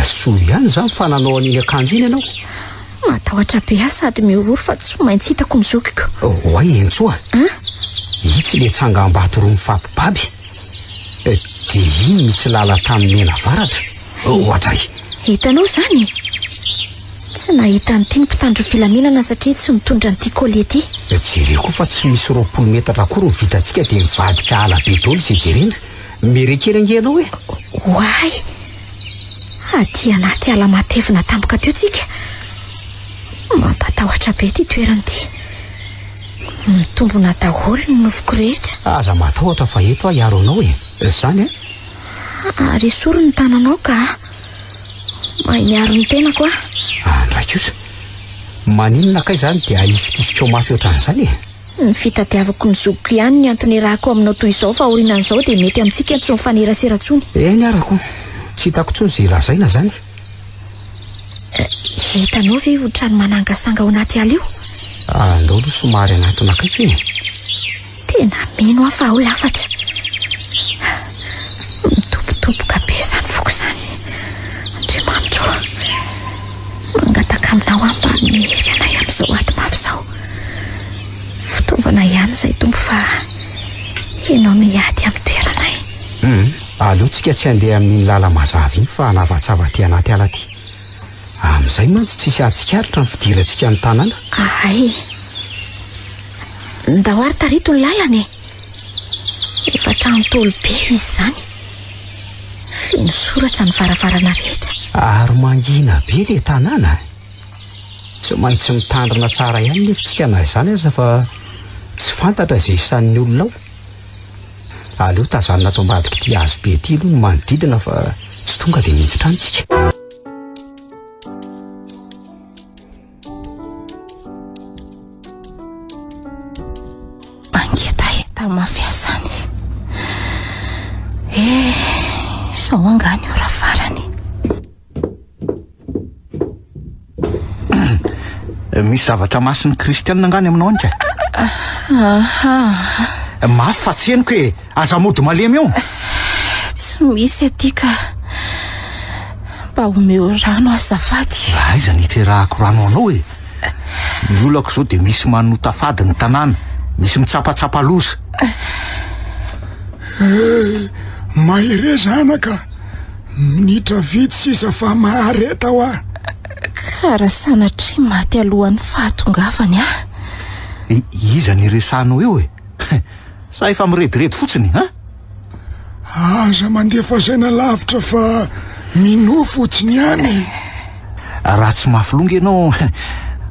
Soa ihany izany fa nanao an'iny akanjo iny ianao. Matahotra be aho sady mihorohoro fa tsy maintsy hitako ny zokiko. Oay oh, Entsoa. Hein? Itsy le tsangambato roa mifampibaby. Eh, de iny misy lalan-tany mena avaratra. Ohatray. Hitanao izany? Tsy nahita an'ity ny mpitandro ny filaminana satria tsy nitondra an'ity colis ity. Jereo koa fa tsy misy roapolo metatra akory ny vitantsika dia mivadika ala be daholo izay jerena. Mere kely ange ianao e! Oay! Aty anaty ala matevina tampoka teo tsika. Mampatahotra be ity toerana ity. Mitombona daholo ny nofiko rehetra. Aza matahotra fa eto aho hiaro anao e. Izany an? Ary esory ny tananao ka. Mahay miaro ny tenako aho. Andraik'io sa? Maninona kay izany dia ahifitifikao mafy ohatran'izany e? Ny fitadiavako ny zokiko ihany ny antony iarahako aminao toy izao fa aorianan'izao dia mety amintsika tsy mifanerasera intsony. Eny ara ko! Tsy hitako intsony izay lazaina izany. Hitanao ve io trano manangasanga ao anaty ala io? Ah, ndao aloha somary hanatona akaiky e! Tena mino aho fa ao lafatra. Mitobotoboka be izany foko izany. Andriamanitra ô! Mangataka aminao aho mba hanome hery anay amin'izao ady mafy izao. Fitaovana ihany izay Tompo fa Ianao miady amin'ny toeranay. Hum, aleo tsika tsy handeha amin'iny lala mazava iny fa hanavatsava aty anaty ala aty. Amin'izay mantsy tsisy hahatsikaritra ny fidirantsika ny tanàna. Ahay. Ndao ary tarito ny lalana e. Efa trano Ntaolo be izy izany. Feno soratra ny varavarana rehetra. Ary mangina be ilay tanàna. Tsy maintsy mitandrina tsara ihany nefa isika na izany aza fa tsy fantatra izay isan'ny olona ao. Aleo tazanina ato ambadik'ity hazo be ity aloha ny manodidina fa tsy tonga dia miditra any isika. Mangetaheta mafy asany. Eh, sao angaha ny ora farany. Eh, misy zavatra masin'ny kristianina angaha ny aminao anka? Aha. Mafy fa tsy henoko e. Aza mody malemy eo! Tsy misy aty ka. Mba omeo rano azafady. Aiza ny hiterahako rano ho anao e? Ny olako izao dia misy manota fady ny tanàna, misy mitsapatsapa loza. Eh, mahereza anaka. Minitra vitsy sisa fa mahareta hoa. Ka raha sanatria maty alohan'ny fahatongavany aho? Iza no iresahanao eo e? Sa efa mirediredy fotsiny an? Aza mandefa saina lavitra fa minoa fotsiny ihany e! Raha tsy mafy longa ianao,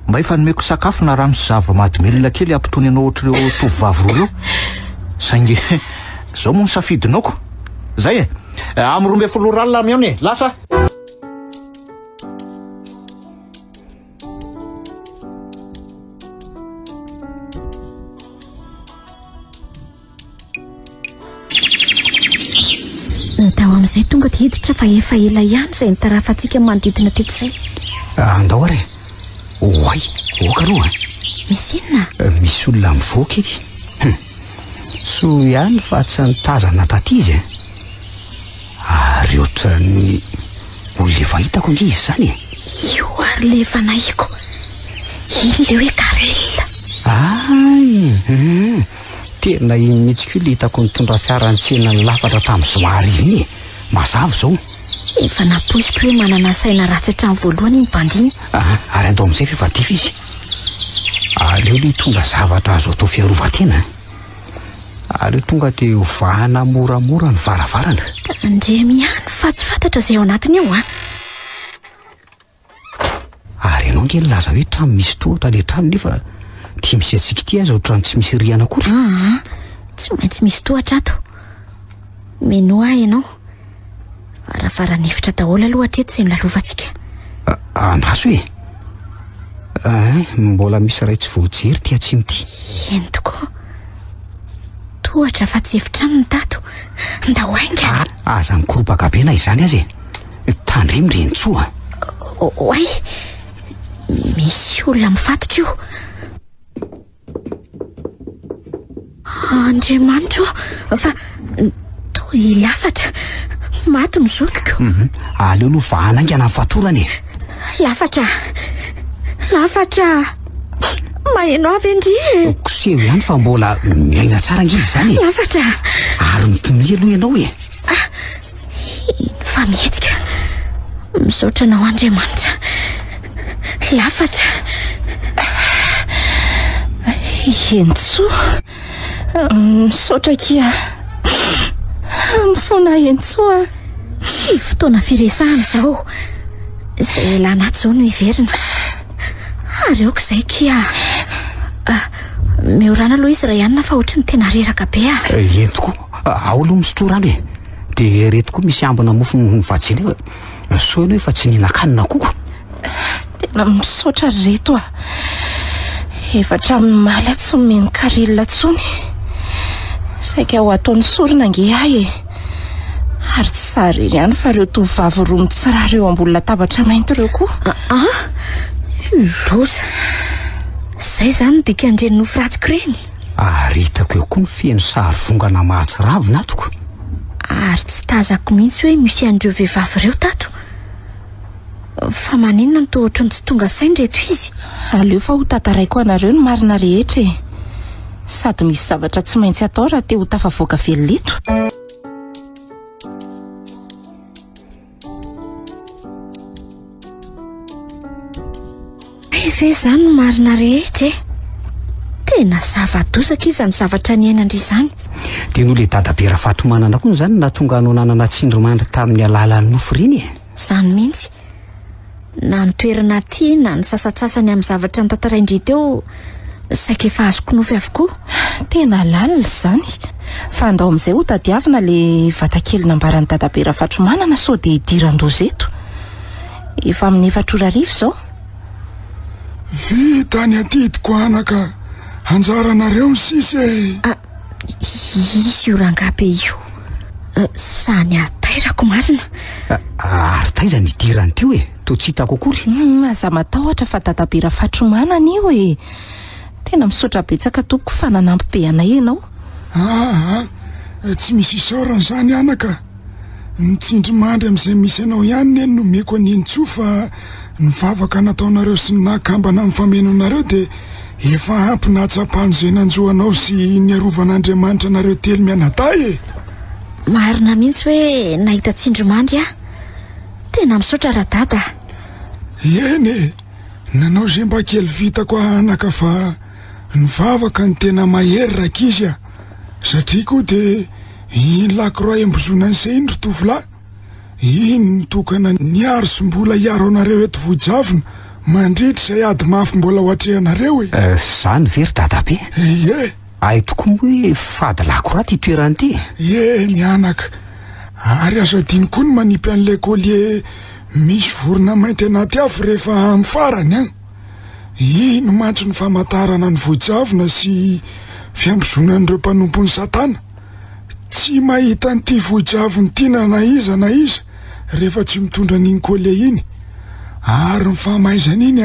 mba efa nomeko sakafo na rano sy zava-mahadomelina kely hampitony anao ohatr'ireo tovovavy roa ireo. Saingy izao moa ny safidinao ko. Izay e! Amin'ny roa ambin'ny folo ora alina aho mihaona e! Lasa! Ny tao amin'izay tonga dia hiditra fa efa ela ihany izay nitarafantsika ny manodidina teto izay. Ah, andao ary. Oay, oka aloha. Misy inona? Eh, misy olona mivoaka ity. Hum. Soa ihany fa tsy nitazana taty izy. Eh. Ary ohatran'ny olona efa hitako ange izy izany e. Io ary le efa nahiko. Iny le hoe Karel. Ay, hum, tena iny mihitsy koa le hitako nitondra fiara nitsena ny lafatra tamin'ny zoma hariva iny e. Mazava izao. Efa nampoiziko hoe manana saina ratsy hatramin'ny voalohany iny bandy iny. Aha, ary andao amin'izay ve fa dify izy. Aleo le hitondra zavatra azo atao fiarovan-tena. Aleo tonga dia hovahana moramora ny varavarana. Ndriemy ihany fa tsy fantatra izay ao anatiny ao an. Ah. Ary ianao nge nilaza hoe trano misy tohatra ilay trano nefa ity misy antsika ity aza ohatran'ny tsy misy rihana akory. Ah, ah. Tsy maintsy misy tohatra ato. Mino ahy ianao. Varavaran'efitra daholo aloha hatreto sy nilalovantsika. Andraso e. Ay, mbola misy iray tsy voajery ty atsimo ty. Eny tokoa. Tohatra fa tsy efitrano ny tato. Ndao ainga. Ah, aza mikoropaka be na izany aza e. Tandremo ry Entsoa. Oay. Misy olona mifatotra io. Andriamanitra ô, fa toa hilafatra. Maty ny zokiko. Mhm. Aleo aloha vahana haingana ny fatorana e. Lafatra. Lafatra. Maheno avy ndry e. Koseho ihany fa mbola miaina tsara ange izany e. Lafatra. Ary mitomia aloha ianao e. Ah, Fa mihetsika. Misaotra anao Andriamanitra. Lafatra. Hentsoa. Misaotra akia. Mifona Hentsoa. Tsy fotoana firesahana izao. Izay elana ato izao no hiverina. Ary aoka izay kia. Ah, miorana aloha izy Rayanina fa ohatry ny tena reraka be ah. Eh, entiko. Ao aloha misotro rano e. De ereto koa misy ambina mofo noho ny vajiny eo e. Soa ianao efa tsy nihinan-kanina akoho. Tena misaotra ry reto a. Efa hatramin'ny omaly aho tsy nomeny caril intsony. Saika ho ataon'ny sorona ange ahy e. Ary tsy izaho irery ihany fa ireo tovovavy roa mitsirara eo ambony latabatra mainty ireo koa. Aa! Loza. Izay izany ny dikan'ireny nofy ratsiko ireny. Ary hitako eo koa ny feno sary vongana mahatsiravina ato ko. Ary tsy tazako mihitsy hoe misy an'ireo vehivavy ireo tato. Fa maninona no toa ohatran'ny tsy tonga saina ireto izy? Aleo fa ho tantaraiko anareo ny marina rehetra e! Sady misy zavatra tsy maintsy atao raha te ho tafavoaka velona eto. Hay ve izany no marina rehetra e? Tena zava-doza akia izany zavatra niainan-dry izany. Dia noho ilay dadabe Rafatomanana koa izany nahatonga anao nanana tsindrimandry tamin'ny alalan'ny nofy ireny e? Izany mihitsy. na ny toerana aty na ny sasatsasany amin'ny zavatra notantarain-dry teo saika efa azoko nofy avokoa. Tena lalina izany. Fa andao amin'izay ho tadiavina ilay vatakely nambaran'i Dadabe Rafatromanana sao dia hidiran-doza eto. Efa amin'ny efatra ora hariva izao. Vita ny adidiko anaka. Anjaranareo ny sisa e! Ah, Izy io rangahy be io sa ny atairako marina? Ary taiza ny idirany teo e? Toa tsy hitako akory. Hmm, aza matahotra fa dadabe Rafatromanana io e. Tena misaotra betsaka tompoko fa nanampy be anay ianao. Ah, ah, tsy misy isaorana izany anaka. Ny tsindrimandry amin'izay misy anao ihany ne no nomeko an'i Nintsoa fa ny vavaka nataonareo sy ny naha kambana amin'ny fameno anareo dia efa ampy nahatsapa an'izay nanjo anao sy niarovan' Andriamanitra anareo telo mianadahy e! Marina mihitsy hoe nahita tsindrimandry aho. Tena misaotra Radada a! Eny e! Nanao izay mba kely vitako aho anaka fa ny vavaka no tena mahery rankizy a! Satria koa dia Iny lakroa iambozonany se iny ry tovolahy, iny no tokana niaro sy mbola hiaro anareo eto Vohijavona mandritra izay ady mafy mbola ho atrehanareo e! Izany ve ry dadabe? Ie! Hay tokoa moa hoe fady lakroa ity toerana ity e! Ie ny anaka! Ary azo adino koa ny manipy an'ilay collier misy vorona mainty anaty afo rehefa amin'ny farany an! Ino mantsy no famantarana ny vojavona sy fiambozonan'ireo mpanompon'i Satana? Tsy mahita an'ity vojavona ity na na iza na iza rehefa tsy mitondra an'iny collier iny. Ary ny famaizana iny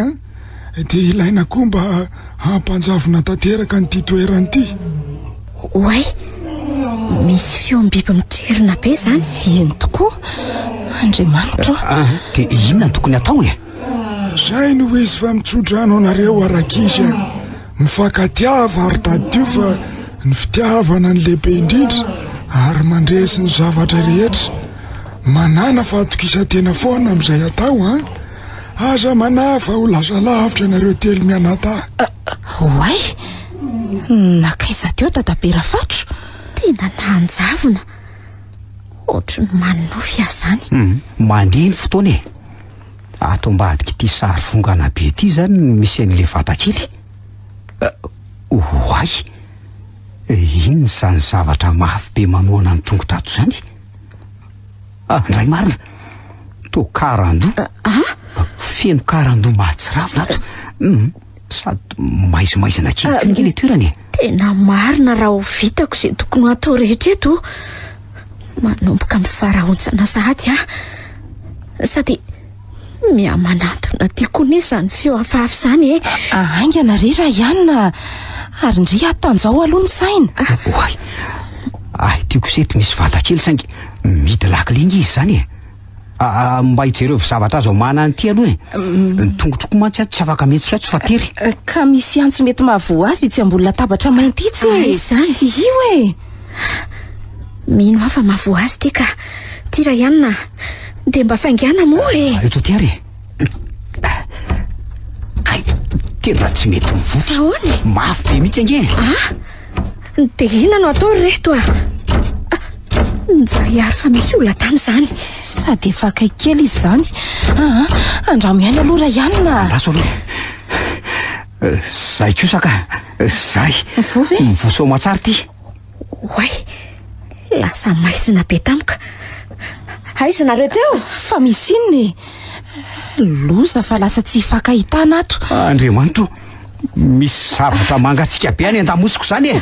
dia ilaina koa mba hampanjavona tanteraka an'ity toerana ity. Oay! Misy feom-biby mitrerona be izany. Eny tokoa. Andriamanitra ô! Dia inona no tokony hatao e? Zay no izy fa mitsodrano anareo arakizy a. Mifakatiava ary tadidio fa ny fitiavana ny lehibe indrindra ary mandresy ny zavatra rehetra. Manana fahatokisan-tena foana amin'izay atao a. Aza manahy fa ho lasa lavitra ianareo telo mianadahy. Oay! Nakaiza teo dadabe Rafatro? Tena nanjavona. Ohatry ny manonofy aho zany. Mandeha ny fotoana e. Ato ambadik'ity sary vongana be ity izany no misy an'ilay vatakely. Oay! Inona izany zavatra mafy be manohana ny tongotra ato izany? Ah, ndray marina! Toa karandoha! Ah, ah? Feno karandoha mahatsiravina ato. Hmm. Sady maizimaizina kely koa ilay toerana e. Tena marina raha ho vitako izay tokony ho atao rehetra eto. Manomboka amin'ny faraontsana sahady aho. Sady mihamanantona tia koa anie izany feo hafahafa izany e. Haingana re Raiana ary ndry atanjao aloha ny saina. Oay, ahy ity kosa eto misy vata kely saingy mihidy lakile nge izy izany e. Aa mba hijerevo zavatra azo amahana an'ity aloha e. Ny tongotroko mantsy ato tsy afaka mihetsika ato fa tery. Ka misy antsy mety mahavoa azy itsy ambony latabatra mainty itsy e. Aiza izany? Io e. Mino aho fa mahavoa azy ity ka. Tira ihany na. Dia mba faingàna moa e. Eto tery e. Ay, tena tsy mety mivotra. Ahoana? Mafy be mihitsy ange. Ah, dia inona no atao ry reto ah? Ah, nizahihary fa misy olona tamin'izany. Sady efa akaiky kely izy izany. Ah, ah, andramo ihany aloha ray anina. Andraso aloha. Eh, Zay kosa ka. Eh, Zay. Mivoa ve? Mivoa soa aman-tsara ity. Oay! Lasa maizina be tamiko. Aiza nareo teo? Fa misy inona e? Loza fa lasa tsy hifankahitana ato. Andriamanitro, misy zavatra mangatsika be any an-damosiko izany e.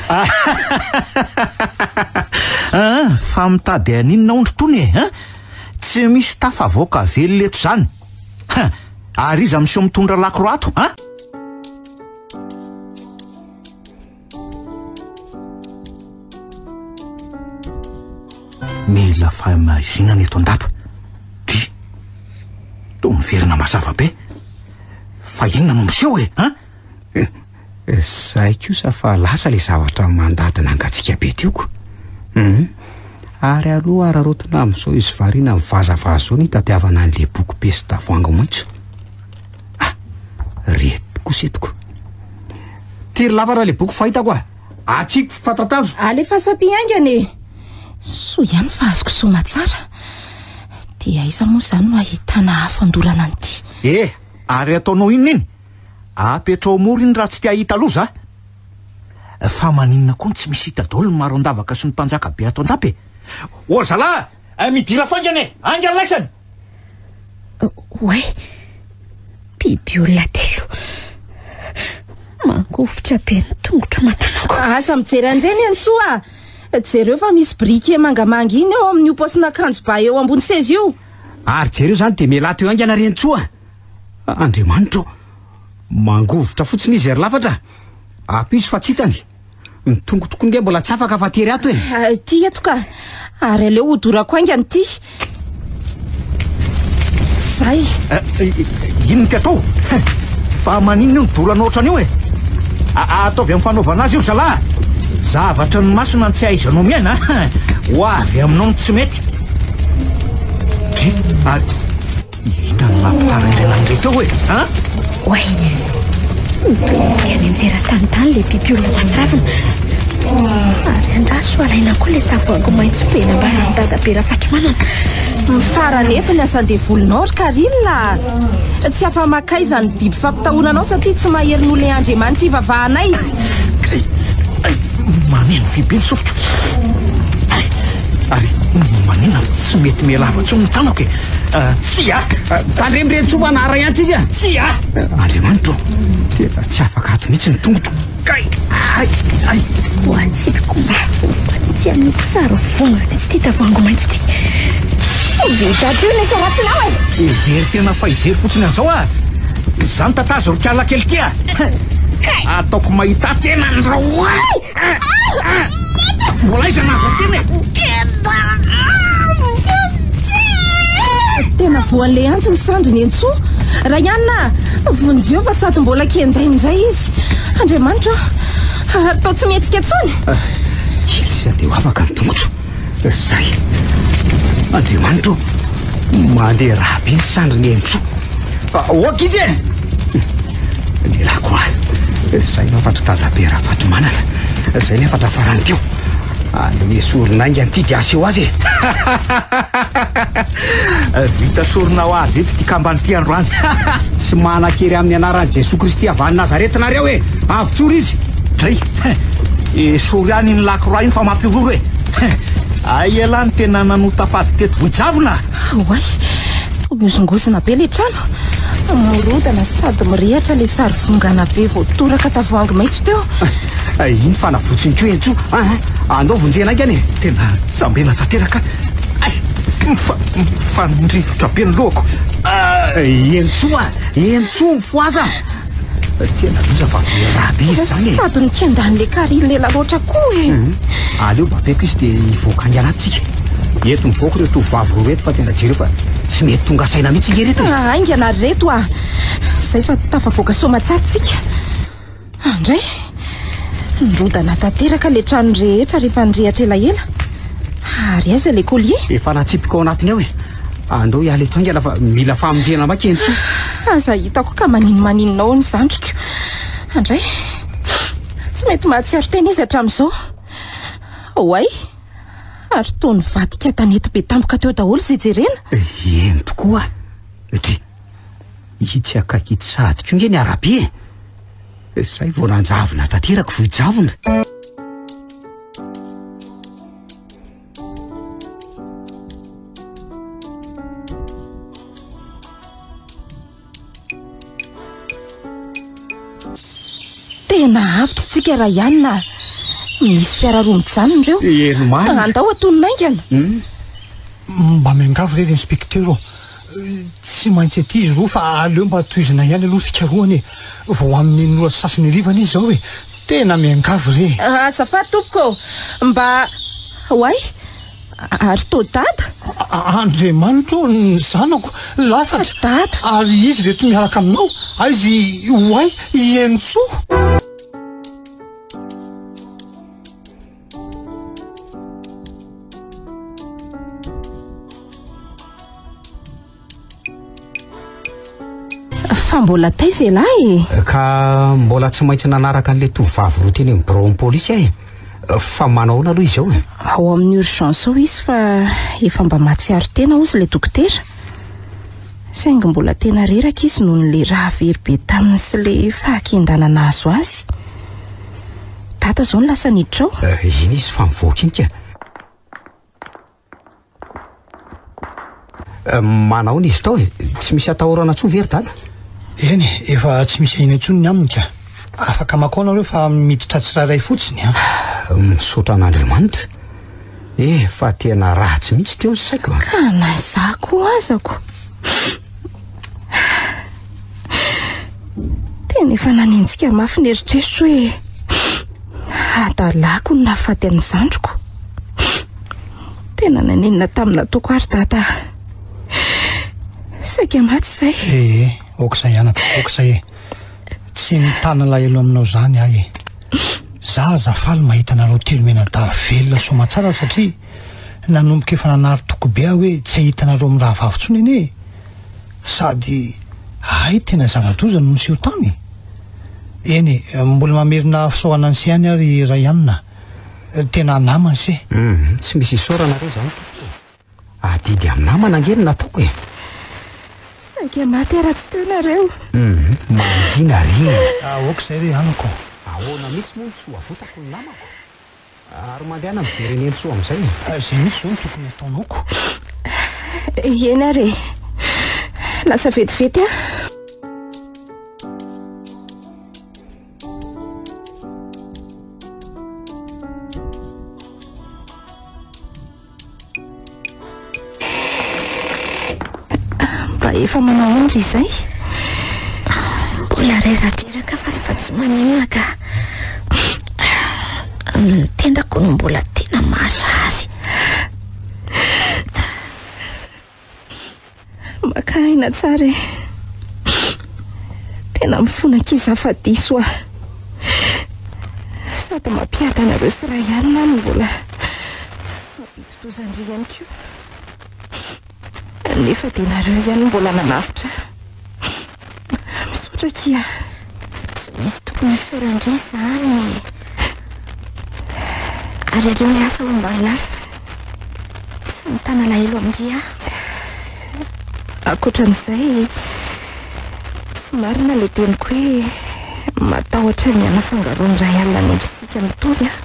Ah, fa mitady aninona ondry tony e? Ah, tsy misy tafavoaka velona eto izany. Ha, ary iza miseho mitondra lakroa ato? Ah? Mila fahamaizina eto an-dapa. Ty, toa miverina mazava be. Fa inona no miseho e, ha? Eh, eh, zay kosa fa lasa le zavatra mandady nangatsika be tio ko. Hmm. Ary aloha ararotina amin'izao izy variana amin'ny vazavaza zao ny tatiavana an'le boky pesta voangy maitso. Ah, reto kosa etiko. Tery lava raha le boky fahitako ah. Atsiko fy fatatazo. Alefaso aty haingana e. Soa ihany fa azoko soamatsara. Dia aiza moa izany no ahitana afo andorana an'ity. Eh, ary ataonao inona iny? Apetrao mora iny raha tsy te hahita loza ah. Fa maninona koa no tsy misy hita daholo ny maro an-davaka sy ny mpanjaka be ato an-dapa e. Ory zalah! Midira faingana e! Haingana laisany! Oay! Biby olona telo mangovitra be ny tongotro aman-tanako. Asa mijery an'ireny eny soa ah! Jereo fa misy briquet mangamanga iny eo amin'io paosin'akanjo ba eo ambony seza io. Ary jereo izany dia mialà teo haingana ry Entsoa a! Andriamanitra ô! Mangovitra fotsiny izy ry lafatra a! Apiso fa tsy hitany. Ny tongotro koa nge mbola tsy afaka fa tery ato e. Ah, ity eto ka. Ary aleo hodorako haingana ity. Zay. Ah, inona ty atao? Fa maninona io midoro anao ohatran'io e? Ah, ah, ataovy amin'ny fanaovana azy io zala. Zavatra ny masina ny tsy ahaizanao miaina. Ho avy aminao ny tsy mety. Dry, ary Hita ny lampitara iray nandre tao e! An? Oay! Nitodika any an-tseran-tany tany ilay bibiolona matsavina. Ary andraso alaina koa ilay tavoahangy maitso be nambaran'i Dadabe Rafatrimanana. Mifara anefa ny asan-devolinao ry Carine a! Tsy afa-maka aiza ny biby fampitahorana anao satria tsy mahery nolehan'Andriamanitra hivavahanay. Kay! Ay! Mameno fibe ny sofiko. Ay! Ary maninona no tsy mety miha lava intsony ny tanako e? Ah, tsia! Tandremo re Ntsoa fa naharay antsika izy a! Tsia! Andriamanitra ô! Dia tsy afaka ato mihitsy ny tongotro. Kay! Ay! Ay! Ho antsika koa tsy amin'ny tsara vonona ity tavoahangy maitso ity. Toby daty io nefa ratsy namana. Very tena fa hijery fotsiny an'izao ah. Izany tatazo ry kialakely tia. Ataoko mahita tena an'ireo. Mbola aiza ny hafa tena e? Kenda! Tena voalehantsy ny sandry Nentsoo. Raianina, vonjeo fa sady mbola kenda indray izy. Andriamanitra, atao tsy mihetsika intsony. Kely sady ho afaka ny tongotro. Zay. Andriamanitra ô, mandeha raha be ny sandrin'i Henintsoa. Ah, ok izy e! Lehilahy koa. Zay no afatry dadabe Rafatomanana. Zay ny afatra farany teo. Anome soron'ainga an'ity dia aseho azy e. Vita sorona ho azy eto ity kambany ity androany. Tsy manan-kery amin'ny anaran'i Jesoa Kristy avy any Nazareta nareo e. Avotsory izy. Dray. Esory any iny lakroa iny fa mampihorohoro e Hein! Hay elah ny tena nanota fady teto Vohijavona a! Oay! Miozongozona be ilay trano. Mirodana sady mirehatra ilay sarivongana be voatoraka tavoahangy maitso teo. Hay iny fa navotsiny koa Henjo a! Andao vonjena haingana e! Tena jambena tanteraka Hay! Mifa, mifanindrivotra be ny lohako Hay! Henjo a! Henjo! Mifohaza! Tena loza fa be raha be izy zany e. Sady nikiandan'i le Karine ela loatra koa e. Mhm. Aleo bapeko izy dia hivoaka any anaty tsika. Eto mivoaka ireo tovovavy roa reto fa tena jereo fa tsy mety tonga saina mihitsy nge reto. Ah, aingana ry reto ah. Zay fa tafavoaka soamatsara tsika. Andray. Ah, Nirodana tanteraka le trano rehetra rehefa nirehatra elaela. Ary aiza le collier? Efa natsipiko ao anatiny ao e. Andao hiala eto haingana fa mila famonjena maika ianty. Aza hitako ka manino maninona ao ny zandriko. Andray, tsy mety mahatsiaro tena izy hatramin'izao. Oay, ary toa nivadika tanety be tampoka teo daholo izay jerena. Eny tokoa. Ity, itsy akaiky itsy sahady koa nge ny arabe. Izay vao nanjavona tanteraka, vohijavona. Tena avy tsika raha ihany na misy fiara roa mijanona ireo. Eny marina. Andao atony naingana. Hmm. Mba miangavy re inspektera ô. Tsy maintsy aty izy roa fa aleo mba tohizina ihany aloha fikarohana e. Vao amin'ny ora sasany harivana izy izao e. Tena miangavy re e! Azafady tompoko ô! Mba Oay! Ary toa dada? Andriamanitra ô! Ny zanako lafatra! Dada! Ary izy reto miaraka aminao? Aiza i Oay, i Henintsoa? Fa mbola taiza ialahy e? Ka mbola tsy maintsy nanaraka an'ilay tovovavy roa teny amin'ny biraon'ny polisy aho e. Fa manao ahoana aloha izao e? Ao amin'ny urgence ao izy fa efa mba mahatsiaro tena hozy ilay dokotera. Saingy mbola tena reraka izy noho ny raha very be taminy sy ilay fahakian-dana nahazo azy. Dada izao no lasa niditra ao. Eh, iny izy fa mivoaka iny ka. Manao ny izy tao e. Tsy misy atahorana tso ve ry dada? Eny e, efa tsy misy ahina intsony ny aminy ka. Afaka makao nareo fa miditra tsirairay fotsiny an. Misaotra an'Andriamanitra. Efa tena ratsy mihitsy teo ny saiko an. Ka na izaho koa azako. Tena efa nanenjika mafy ny eritreritro hoe hadalako ny nahafaty an'ny zandriko. Tena nanenina tamin'ny nataoko ary dada. Saika maty izay. Eh, eh, aoka izay anaka, aoka izay e. Tsy mitana lahelo aminao izany ahy e. Za aza faly mahita anareo telo mianadahy velona soa aman-tsara satria Nanomboka efa nanary toky be aho hoe tsy hahita anareo mirahavavy intsony anie e! Sady hay tena zava-doza no niseho tany e! Eny e, mbola mamerina fisaorana an'ise ihany aho ry Ryan a! Tena namana ise! Hum, tsy misy isaorana re izany tompoko e! Adidy amin'ny namana ange no nataoko e! Saika maty raha tsy teo nareo! Hum, mangina re! Aoka izay re anako! Ahoana mihitsy moa no tsy ho avotako ny namako? Ary mandehana mijery an'i Nentso amin'izay e. Fa izay mihitsy izao no tokony hataonao ko. Eny ary e. Lasa vetivety aho. Mba efa manahoana ry izay? Mbola reradreraka fa rehefa tsy maninona ka ny tendako no mbola tena marary. Maka aina tsara e. Tena mifona kisa afa diso aho. Sady mampiady anareo sy Ryan aho no mbola mampidi-doza-ndry ihany koa. Nefa dia nareo ihany no mbola nanavotra ahy. Misaotra akia. Tsy misy tokony hisaora an-dry izany e. Ary aleo miasa hono mba hiasa. Tsy mitana alahelo amin-dry aho. Ankoatran'izay, tsy marina ilay teniko hoe matahotra ny hanafangaroan'ny iray alina ny endritsika mitovy aho.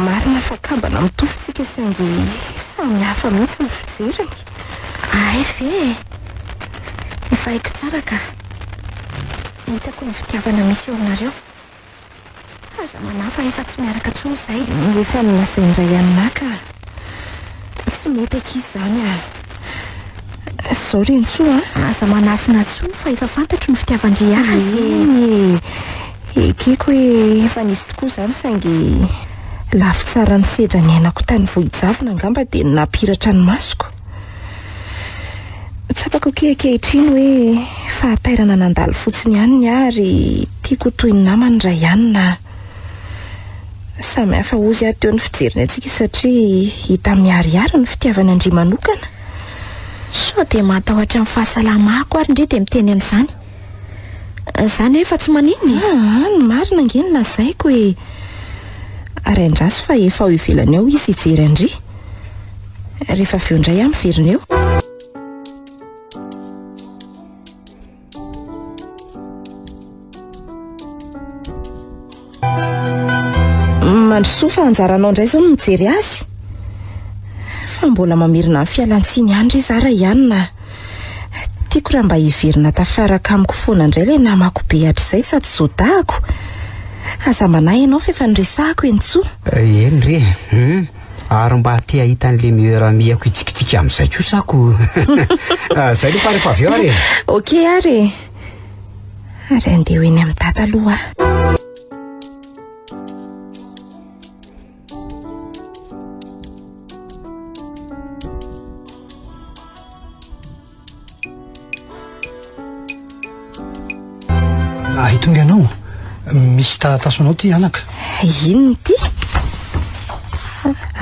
Marina fa kambana mitovy tsika saingy samy hafa mihitsy ny fijeriny. Ahay ve e! Efa haiko tsara ka. Hitako ny fitiavana misy eo aminareo. Aza manahy fa efa tsy miaraka intsony izay. Efa nolazain-dray an'nahy ka. Tsy mety akia izany a! Izao ry Ntsoa a! Aza manafina intsony fa efa fantatro ny fitiavan-dry azy e! Ekeko hoe efa nisy tokoa izany saingy lafy tsara ny sedra niainako tany Vohijavona angamba dia ny nampiratra ny masoko. Tsapako akia ankehitriny hoe fahatairana nandalo fotsiny ihany ny ahy ary tiako ho toy ny namany Raianina aho. Samy hafa hozy ary teo ny fijeriny antsika satria hita miharihary ny fitiavany an-dry manokana. Sao dia matahotra ny fahasalamako ary ndry dia miteny an'izany? Za nefa tsy maninona e. Aa, ny marina ange no lazaiko e. Ary andraso fa efa ao ivelany ao izy hijery an-dry. Rehefa avy eo indray aho miverina eo. Mandrosoa fa anjaranao indray izao ny mijery azy. Fa mbola mamerina ny fialantsiny ihany ry zara ihany na. Tiako raha mba hiverina tafaraka amiko foana indray ilay namako be hatrizay sady zodahako. Aza manahy ianao fa efa niresahako eny tsoa. Eh, eny re eh. Ary mba te hahita an'ilay meilleur amie-ako hitsikitsiky amin'izay kosa ako. Izay aloha fa rehefa avy eo ary e. Ok ary e. Ary andeha ho eny amin'ny data aloha ah, Hitonga anao misy taratasonao ty anaka inona ty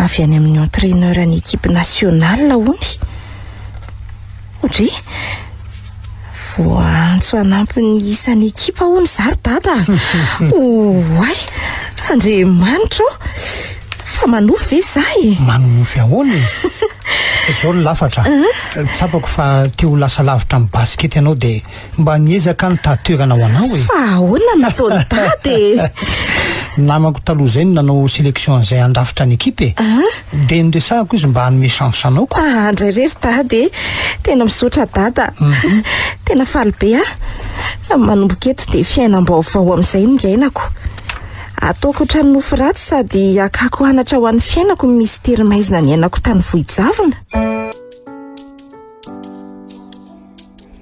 avy any amin'ny entraîneur ny équipe nationale ony Ry, voaantso hanampy ny isan'ny ekipa hono izaho ry dada a! Oay! Andriamanitra ô! Fa manofy ve izaho e? Manonofy ahoana e? Izao ny lafatra, tsapako fa te ho lasa lavitra amin'ny basikety ianao dia. Mba niezaka nitady toerana ho anao e! Fa ahoana no nataon'i Dada e? Namako taloha izay no nanao sélection an'izay handrafitra ny équipe e. Dia niresahako izy mba hanome chance anao ko. Ah, ndray re ry Dada e! Tena misaotra Dada. Tena faly be aho. Manomboka eto dia fiainam-baovao amin'izay no iainako. Ataoko ohatran'ny nofy ratsy sady hakako anatra ho an'ny fiainako ny mistery maizina niainako tany Vohijavona.